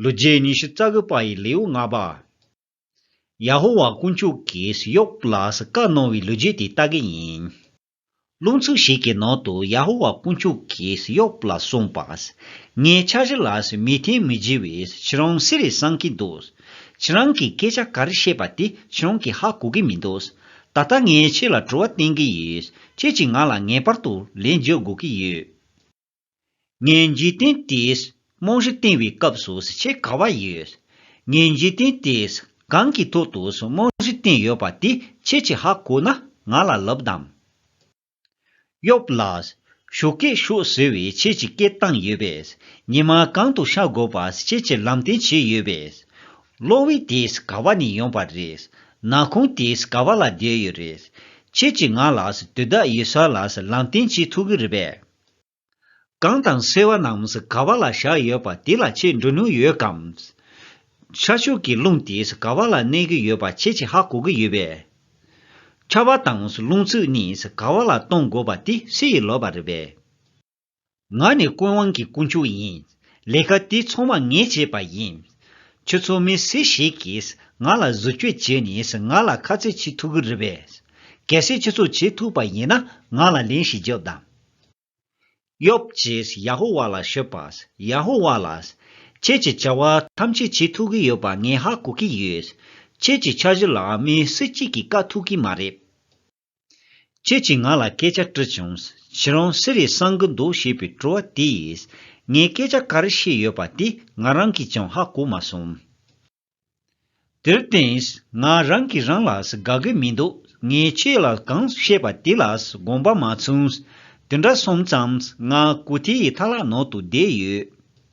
ལོ་རྒྱས་ཉི་ཤུ་རྩ་དགུ་པ་ཡི་ལེའུ་ལྔ་པ། ཡ་ཧོ་ཝཱ་དཀོན་མཆོག་གིས་ཡོབ་ལ་བཀའ་གནང་བའི་ལོ་རྒྱུས་དེ་ལྟ་གི་ཡིན། རླུང་ཚུགས་ཤིག་གི་ནང་དུ་ཡ་ཧོ་ཝཱ་དཀོན་མཆོག་གིས་ཡོབ་ལ་གསུངས་པ། ངའི་ཕྱག་བཞི་ལ་མི་བརྟེན་མི་བགྱི་བས་ཁྱེད་རང་སུ་རེད་བསམ་གྱི་འདུག་ཁྱེད་རང་གིས་སྐད་ཆ་ག་རེ་བཤད་པ་དེ་ཁྱེད་རང་གིས་ཧ་གོ་གི་མི་འདུག་ད་ལྟ་ངས་ཁྱེད་ལ་དྲི་བ་བསྟན་གི་ཡོད་ཁྱེད་ཀྱིས་ང་ལ་ངེས་པར་དུ་ལན་བརྗོད་དགོས་ཀྱི་ཡོད། ངས་འཇིག་རྟེན་དེས་རྨང་གཞི་བཏིང་བའི་སྐབས་སུ་བཟི་ཆེས་ག་བ་ཡོད། ངས་འཇིག་རྟེན་དེས་གང་གི་ཐོག་ཏུ་རྨང་གཞི་བཏིང་ཡོད་པ་དེ་ཁྱེད་ཀྱིས་ཧ་གོ་ན་ང་ལ་ལབ་དམ། ཡོབ་ལགས། ཞོ་སྐད་ཤོད་ཟེར་བའི་ཁྱེད་ཀྱི་སྐད་བཏང་ཡོད་པས་ཉི་མ་གང་དུ་ཤར་དགོས་པ་བཟི་ཁྱེད་ཀྱི་ལམ་སྟོན་བྱས་ཡོད་པས། གློག་འོད་དེས་ག་བ་ནས་ཡོང་བ་རེད། ན་ཁུང་དེས་ག་བ་ལ་བསྡད་ཡོད་རེད། ཁྱེད་ཀྱིས་ང་ལགས་དུས་བདག་ཡེ་སཱི་ལགས་ལམ་སྟོན་བྱེད་ཐུབ་གི་རེད་པས། གངས་དང་སེར་བ་རྣམས་ག་བ་ལ་བཞག་ཡོད་པ་དེ་ལ་ཁྱེད་འགྲོ་ནུས་ཡོད་གམ། ཤར་ཕྱོགས་ཀྱི་རླུང་དེས་ག་བ་ལ་གནས་གི་ཡོད་པ་ཁྱེད་ཀྱིས་ཧ་གོ་གི་ཡོད་པས། ཁ་བ་དང་རླུང་ཚུགས་གཉིས་ག་བ་ལ་གཏོང་དགོས་པ་དེ་སུ་ཡིས་ལོས་པ་རེད་པས། ང་ནི་ཀུན་དབང་གི་དཀོན་མཆོག་ཡིན། ལས་ཀ་དེ་ཚང་མ་ངས་བྱས་པ་ཡིན། ཁྱོད་ཚོ་མི་སུ་ཞིག་གིས་ང་ལ་བཟོ་བཅོས་བྱས་ནས་ང་ལ་ཁ་རྩོད་བྱེད་ཐུབ་ཀྱི་རེད་བས། གལ་སྲིད་ཁྱོད་ཚོ་བྱེད་ཐུབ་པ་ཡིན་ན་ང་ལ་ལན་ཞིག་རྒྱོབས་དང། ཡོབ་ཀྱིས་ཡ་ཧོ་ཝཱ་ལ་ཤོད་པ། ཡ་ཧོ་ཝཱ་ལགས། ཁྱེད་ཀྱི་བྱ་བ་ཐམས་ཅད་བྱེད་ཐུབ་ཀྱི་ཡོད་པ་ངས་ཧ་གོ་གི་ཡོད། ཁྱེད་ཀྱི་འཆར་གཞི་ལ་མི་སུ་གཅིག་གིས་དཀའ་ཐུབ་ཀྱི་མ་རེད། ཁྱེད་ཀྱིས་ང་ལ་སྐད་ཆ་དྲིས་བྱུང། ཁྱེད་རང་སུ་རེད་བསམ་གི་འདུག་ཞེས་པའི་དྲི་བ་དེས། ངས་སྐད་ཆ་ག་རེ་བཤད་ཡོད་པ་དེ་ང་རང་གིས་ཀྱང་ཧ་གོ་མ་སོང། དེར་བརྟེན། ང་རང་གིས་རང་ལ་དགའ་གི་མི་འདུག་ངས་ཁྱེད་ལ་གང་བཤད་པ་དེ་ལ་དགོངས་པ་མ་ཚུགས། དེ་འདྲ་སོང་ཙང་ང་སྐུ་དེའི་མཐའ་ལག་ནང་དུ་བསྡད་ཡོད།